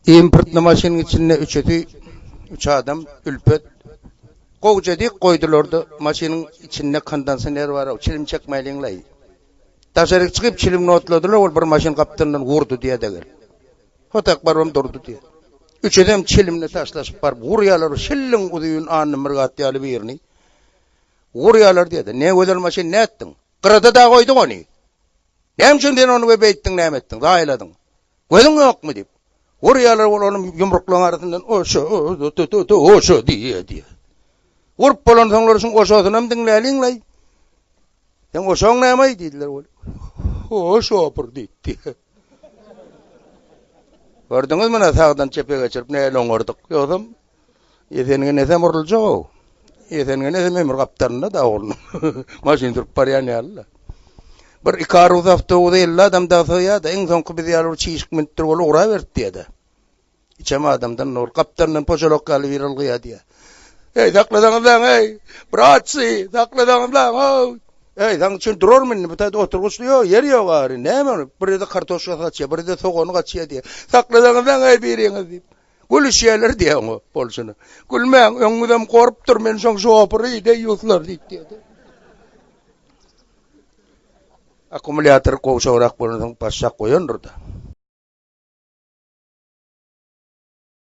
Importly maşynyň içinde üçüsi, üç adam, Ülpet, gowja dik goýdular-da, maşynyň içinde kondensioner bar-ow, çilim çekmäliň-laý. Daşaryk çykyp, çilimini otladylar, ol bir maşyn gapdalyndan urdy diýýä-de gelip. Hotak barybam durdy diýýä. Üçüsem çilimini taşlaşyp baryp urýarlar, şilliň uzyn Annamyrat ýaly birini urýarlar diýýä-de. Nägözel maşyn, nätdiň? Gyrada-da goýduň ony. Näme üçin sen ony we beýtdiň, näme etdiň, zaýaladyň? Gözüň ýokmy? diýip, urýarlar, ol onuň ýumruklaryň arasyndan Oşo, tu-tu-tu, oşo diýýär, diýýär. Urup bolansoňlar şuň oşosynam diňläliň-laý. Seň oşoň näme-aý? diýdiler, ol Oşopyr diýip, diýýär. Gördüňizmi, ine, sagdan çepe geçirip nähili oňardyk. Ýogsam, Esenine nesem uruljak-ow. Esenine nesem ömür gapdalynda-da oglunyň. Maşyn sürüp barýan ýaly-da. Bir iki aruz awtobusa elli adam dagy sygýar-da, iň soňky biz ýaly bir çişik münüpdir bolup ugraberip diýýä-de. Içem adamdan nur, gapdalyndan pojalok ýaly biri ylgaýar diýýä. Eý, saklasaňyzlaň-eý! Bratçy, saklasaňyzlaň-ow! Eý, saň üçin durarmy indi? Bu taýda oturgyçly ýok, ýer ýok ary. Näme ony? Birede kartoşkasy gaçýar, birede sogany gaçýar diýýä. Saklasaňyzlaň-eý biriňiz diýip. Gülüşýärler diýýä oňa bolşuna. Gülmäň, öňňüzem gorup dur, men şoň şopury deý ýuslar diýip diýýä-de. Akkumulýator gowşagrak bolansoň başjak goýandyr-da.